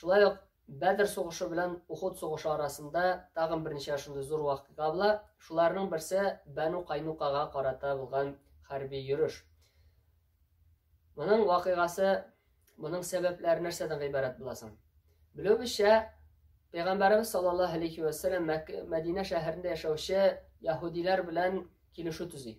Шулай ук Бәдр сугышы белән Ухуд сугышы арасында тагын берничә шундый зур вакыйга була. Шуларның берсе Бәну Кайнукага карата булган хәрби йөреш. Моның вакыйгасы, моның сәбәпләре нәрсәдән гыйбарәт буласың? Белүебезчә, Пәйгамбәребез саллаллаһу алейхи ва сәлләм Мәдинә шәһәрендә яшәүче яһудиләр белән килешү төзи.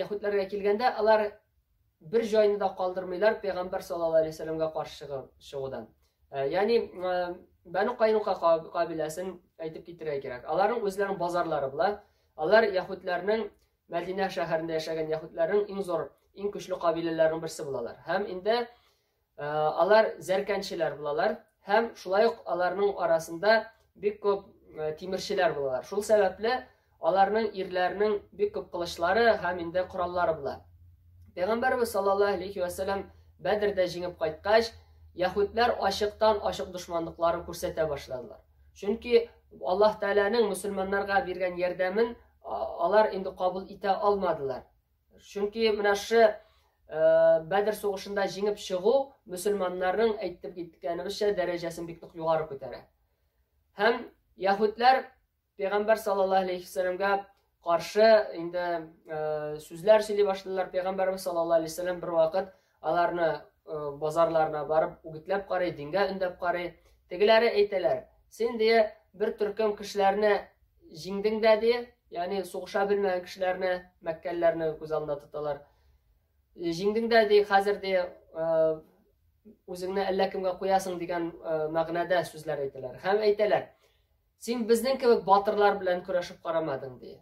Яһүдләргә килгәндә, алар бер җайны да калдырмыйлар пәйгамбәр саллаллаһу алейһи вәсәләмгә каршы чыгудан. Э, ягъни э, Бәну Кайнука кабиләсен әйтеп китерә кирәк. Аларның үзләренең базарлары була. Алар яһүдләрнең Мәдинә шәһәрендә яшәгән яһүдләрнең иң зур, иң көчле кабиләләренең берсе булалар. Һәм инде Э, алар зәркәнчеләр булалар һәм шулай ук аларның арасында бик күп э, тимерчеләр булалар. Шул сәбәпле аларның ирләренең бик күп кылычлары һәм инде кораллары була. Пәйгамбәрбез саллаллаһу алейхи ва сәллам Бәдрдә җиңеп кайткач, яһүдләр ачыктан ачык дошманлыкларын күрсәтә башладылар. Чөнки Аллаһ Тәгаләнең мусульманнарга биргән ярдәмен алар инде кабул итә алмадылар. Чөнки менә шы Бәдер сугышында җиңеп чыгу мөселманнарның әйтеп киткәнебезчә дәрәҗәсен бик нык югары күтәрә. Һәм яһүдләр пәйгамбәр саллаллаһу алейхи вәсәләмгә каршы инде сүзләр сөйли башлыйлар. Пәйгамбәрбез саллаллаһу алейхи вәсәләм бервакыт Аларны э, базарларына барып үгетләп карый, дингә өндәп карый. Тегеләре әйтәләр, син дия бер төркем кешеләрне җиңдең дә дия, ягъни сугыша белмәгән кешеләрне, мәккәлләрне күз алдында тоталар. Э, җиңдең дә дия, хәзер дия э, үзеңне әллә кемгә куясың дигән мәгънәдә сүзләр әйтәләр. Һәм әйтәләр, Син безнең кебек батырлар белән көрәшеп карамадың, ди.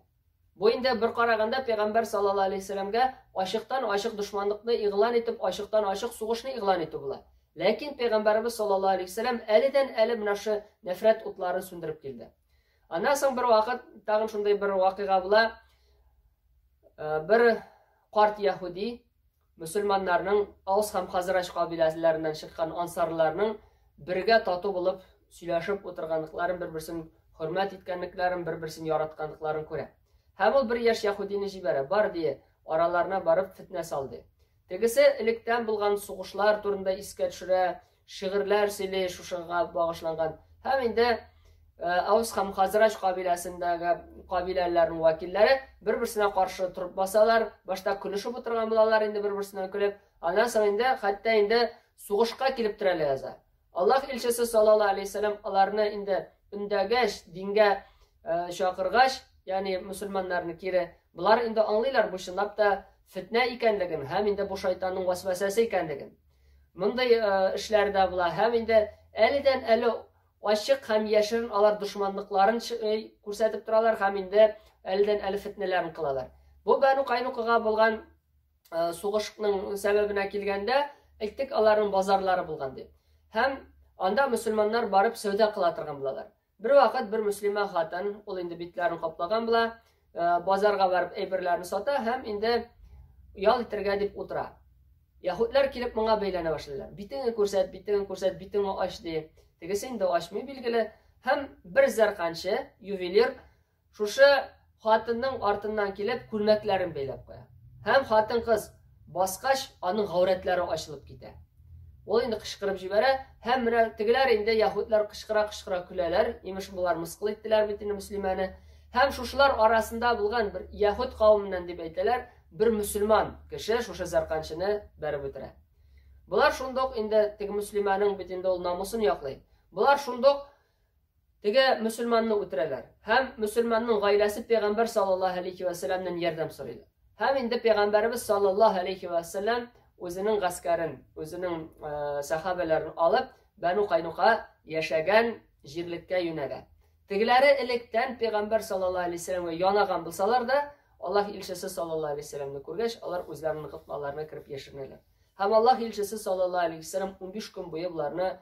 Бу инде бер караганда пәйгамбәр саллаллаһу алейһи сәламгә ачыктан-ачык дошманлыкны игълан итеп, ачыктан-ачык сугышны игълан итү була. Ләкин пәйгамбәребез саллаллаһу алейһи сәлам әледән-әле менә шушы нәфрәт утларын сүндереп килде. Аннан соң бер вакыт тагын шундый бер вакыйга була. Э, бер карт яһуди Мөселманнарның Аус һәм Хазрач кабиләләреннән чыккан ансарларның бергә тату булып сөйләшеп утырганлыкларын, бер-берсен хөрмәт иткәнлекләрен, бер-берсен яратканлыкларын күрә. Һәм ул бер яшь яһудины җибәрә, бар дие, араларына барып фетнә салды. Тегесе электән булган сугышлар турында искә төшерә, шигырьләр сөйли шушыга багышланган һәм инде Аус һәм Хазрач кабиләсендәге кабиләләрнең вәкилләре бер-берсенә каршы торып басалар, башта көлешеп утырган булалар инде бер-берсенә көлеп, аннан соң инде хәтта инде сугышка килеп терәлә яза. Аллаһ илчесе саллаллаһу алейһи вәсәлам аларны инде үндәгәч, дингә э, чакыргач, ягъни мусульманнарны кире, булар инде аңлыйлар бу чынлап та фитнә икәнлеген һәм инде бу шайтанның васвасәсе икәнлеген. Мондый эшләр дә була. Һәм инде әледән әле ачык һәм яшерен алар дошманлыкларын күрсәтеп торалар һәм инде әледән әле фетнәләрен кылалар. Бу Бәну Кайнукага булган сугышның сәбәбенә килгәндә, әйттек, аларның базарлары булган дип. Һәм анда мөселманнар барып сәүдә кыла торган булалар. Бервакыт бер мөслимә хатын, ул инде битләрен каплаган була, э, базарга барып әйберләрен сата һәм инде ял итәргә дип утыра. Яһудлар килеп моңа бәйләнә башлыйлар. Битеңне күрсәт, битеңне күрсәт, битеңне ач ди. Тегесе инде ачмый билгеле. Һәм бер зәрканчы, ювелир, Шушы хатынның артыннан килеп, күлмәкләрен бәйләп куя. Һәм хатын-кыз баскач, аның гаурәтләре ачылып китә. Ул инде кычкырып җибәрә, һәм менә тегеләр инде яһүдләр кычкыра-кычкыра көләләр, имеш болар мыскыл иттеләр бит инде мөслимәне. Һәм шушылар арасында булган бер яһүд кавымыннан дип әйтәләр, бер мөселман кеше шушы зәрканчыны бәреп үтерә. Болар шундук инде теге мөслимәнең бит инде ул намусын яклый. Болар шундук Теге мөселманны үтерәләр. Һәм мөселманның гаиләсе пәйгамбәр саллаллаһу алейхи вә сәлләмнән ярдәм сорыйлар. Һәм инде пәйгамбәребез саллаллаһу алейхи вә сәлләм үзенең гаскәрен, үзенең э, сәхабәләрен алып, Бәну Кайнука яшәгән җирлеккә юнәлә. Тегеләре электән пәйгамбәр саллаллаһу алейхи сәлләмгә янаган булсалар да, Аллаһ илчесе саллаллаһу алейхи сәлләмне күргәч, алар үзләренең кытлаларына кереп яшеренәләр. Һәм Аллаһ илчесе саллаллаһу алейхи сәлләм 15 көн буе боларны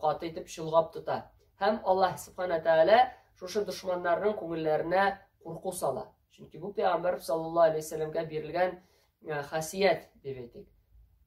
каты итеп чолгап тота. Һәм Аллаһ Субхана Тәгалә шушы дошманнарның күңелләренә курку сала. Чөнки бу пәйгамбәр саллаллаһу алейһи вәсәләмгә бирелгән хасият дип әйтик.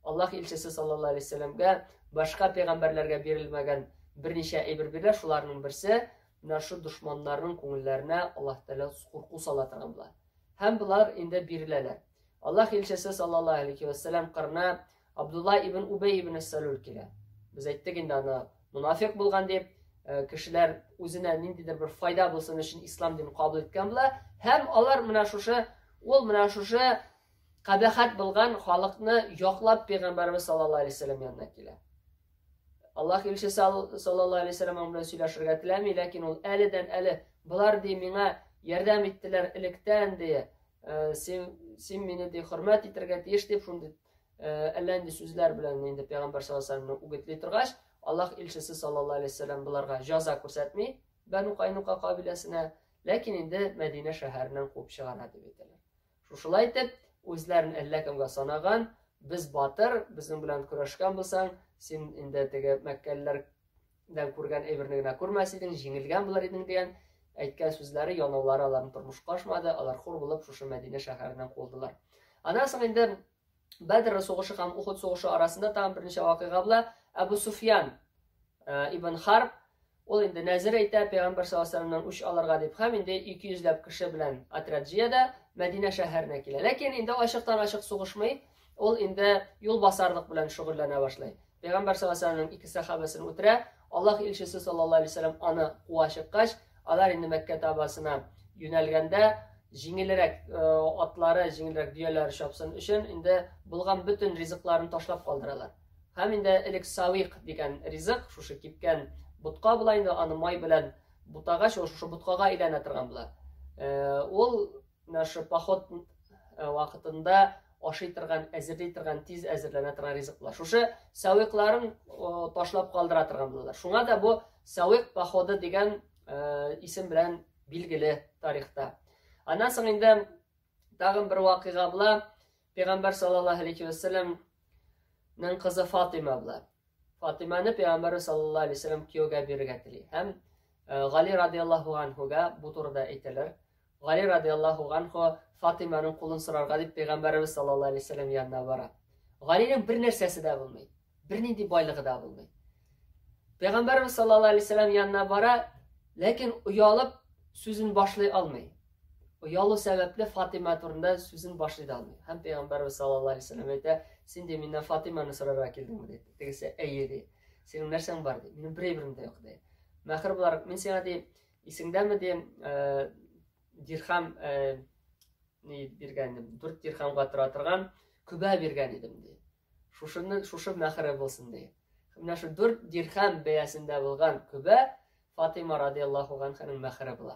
Аллаһ илчесе саллаллаһу алейһи вәсәләмгә башка пәйгамбәрләргә бирелмәгән берничә әйбер бирә, шуларның берсе менә шу дошманнарның күңелләренә Аллаһ Тәгалә курку сала торган була. Һәм болар инде биреләләр. Аллаһ илчесе саллаллаһу алейхи вәссәлам кырына Абдулла ибн Убей ибн Сәлүл килә. Без әйттек инде аны мунафик булган дип, э, кешеләр үзенә ниндидер бер файда булсын өчен ислам динен кабул иткән була. Һәм алар менә шушы ул менә шушы кабахат булган халыкны яклап пәйгамбәрбез саллаллаһу алейхи вәссәлам янына килә. Аллаһ илчесе саллаллаһу алейхи вәссәлам аңа белән сөйләшергә теләми, ләкин ул әледән әле болар ди миңа ярдәм иттеләр электән ди, Э, син, син мине ди, хөрмәт итәргә тиеш дип, шундый э, әллә нинди сүзләр белән инде пәйгамбәр саллаллаху үгетли торгач, Аллаһ илчесе саллаллаху алейхи вәсәлләм буларга җаза күрсәтми, Бәну Кайнука кабиләсенә, ләкин инде Мәдинә шәһәреннән куып чыгара дип әйтәләр. Шушылай итеп, үзләрен әллә кемгә санаган, без батыр, безнең белән көрәшкән булсаң, син инде теге мәккәлеләр дән күргән әйберне генә күрмәс идең, җиңелгән булыр идең дигән әйткән сүзләре, янаулары аларны тормышка ашмады, алар хур булып шушы Мәдинә шәһәреннән куылдылар. Аннан соң инде Бәдр сугышы һәм Ухуд сугышы арасында тагын берничә вакыйга була. Әбу Суфьян э, ибн Харб ул инде нәзер әйтә, пәйгамбәр саллаллаху үч алырга дип, һәм инде 200 йөзләп кеше белән отряд җыяда Мәдинә шәһәренә килә. Ләкин инде ачыктан ачык сугышмый, ул инде юлбасарлык белән шөгыльләнә башлый. Пәйгамбәр саллаллаһу алейһи ва сәлләмнең ике сахабасын үтерә. Аллаһ илчесе саллаллаһу алейһи ва сәлләм аны куа чыккач, алар инде Мәккә табасына юнәлгәндә җиңелрәк э, атлары, җиңелрәк дөяләре чапсын өчен инде булган бөтен ризыкларын ташлап калдыралар. Һәм инде элек савик дигән ризык, шушы кипкән ботка була инде, аны май белән бутагач, ул шушы боткага әйләнә торган була. Э, ул Наша поход э, вакытында ашый торган, әзерли торган, тиз әзерләнә торган ризыклар. Шушы сәвикларын ташлап калдыра торган булалар. Шуңа да бу сәвик походы дигән э, исем белән билгеле тарихта. Аннан соң инде тагын бер вакыйга була. Пәйгамбәр саллаллаһу алейхи ва кызы Фатыйма була. Фатиманы пәйгамбәр саллаллаһу алейһи вәсәлләм кияүгә бирергә тели. Һәм Гали радиаллаһу анһуга бу турыда әйтәләр. Гали радиаллаһу анһу Фатиманың кулын сорарга дип пәйгамбәребез саллаллаһу алейһи вәсәлләм янына бара. Галинең бер нәрсәсе дә булмый, бернинди байлыгы да булмый. Пәйгамбәребез саллаллаһу алейһи вәсәлләм янына бара, ләкин оялып сүзен башлый алмый. Оялу сәбәпле Фатима турында сүзен башлый да алмый. Һәм Пәйгамбәрбез саллаллаһу алейһи вәсәлләм әйтә, син дә миннән Фатиманы сорарга килдеңме ди. Тегесе әйе ди. Синең нәрсәң бар ди. Минем бер әйберем дә юк ди. Мәхер буларак мин сиңа ди, исеңдәме ди, э, дирхам э, ни биргән идем, 4 дирхамга тора торган күбә биргән идем ди. Шушыны шушы мәхәре булсын ди. Менә шу 4 дирхам бәясендә булган күбә Фатима радияллаху анханың мәхәре була.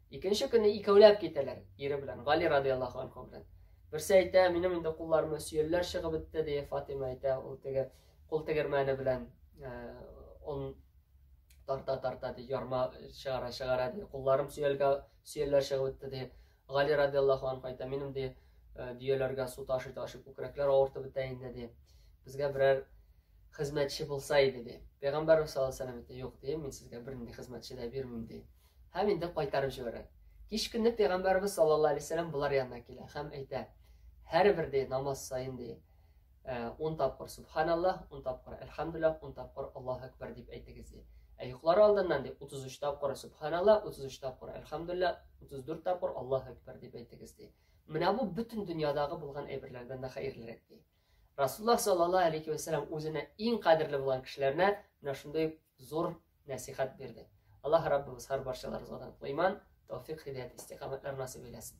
Икенче көнне икәүләп китәләр, ире белән, Гали радиаллаху анху белән. Берсе әйтә, минем инде кулларымны сөялләр чыгып бетте, ди Фатима әйтә, ул теге кул тегермәне белән э, он тарта тарта ди, ярма чыгара чыгара ди, кулларым сөялгә сөялләр чыгып бетте ди. Гали радиаллаху анху әйтә, минем ди э, дөяләргә су ташый ташый күкрәкләр авыртып бетә инде ди. Безгә берәр хезмәтче булса иде ди. Пәйгамбәрбез саллаллаху алейһи вәсәлләм әйтә, юк ди, мин сезгә бернинди хезмәтче дә бирмим ди. Һәм инде кайтарып җибәрә. Кич көнне пәйгамбәрбез саллаллаһу алейһи вәсәлләм болар янына килә һәм әйтә, һәрбер ди намаз саен ди 10 тапкыр субханаллаһ, 10 тапкыр әлхәмдүлиллаһ, 10 тапкыр Аллаһу әкбәр дип әйтегез ди. Ә йоклары алдыннан ди 33 тапкыр субханаллаһ, 33 тапкыр әлхәмдүлиллаһ, 34 тапкыр Аллаһу әкбәр дип әйтегез ди. Менә бу бөтен дөньядагы булган әйберләрдән дә хәерлерәк ди. Расулла саллаллаһу алейхи ва сәлләм үзенә иң кадерле булган кешеләренә менә шундый зур нәсихәт бирде. Аллаһ Раббыбыз һәр барчаларыбызга иман, тәүфик, хидәят, истикамәтләр насыйп әйләсен.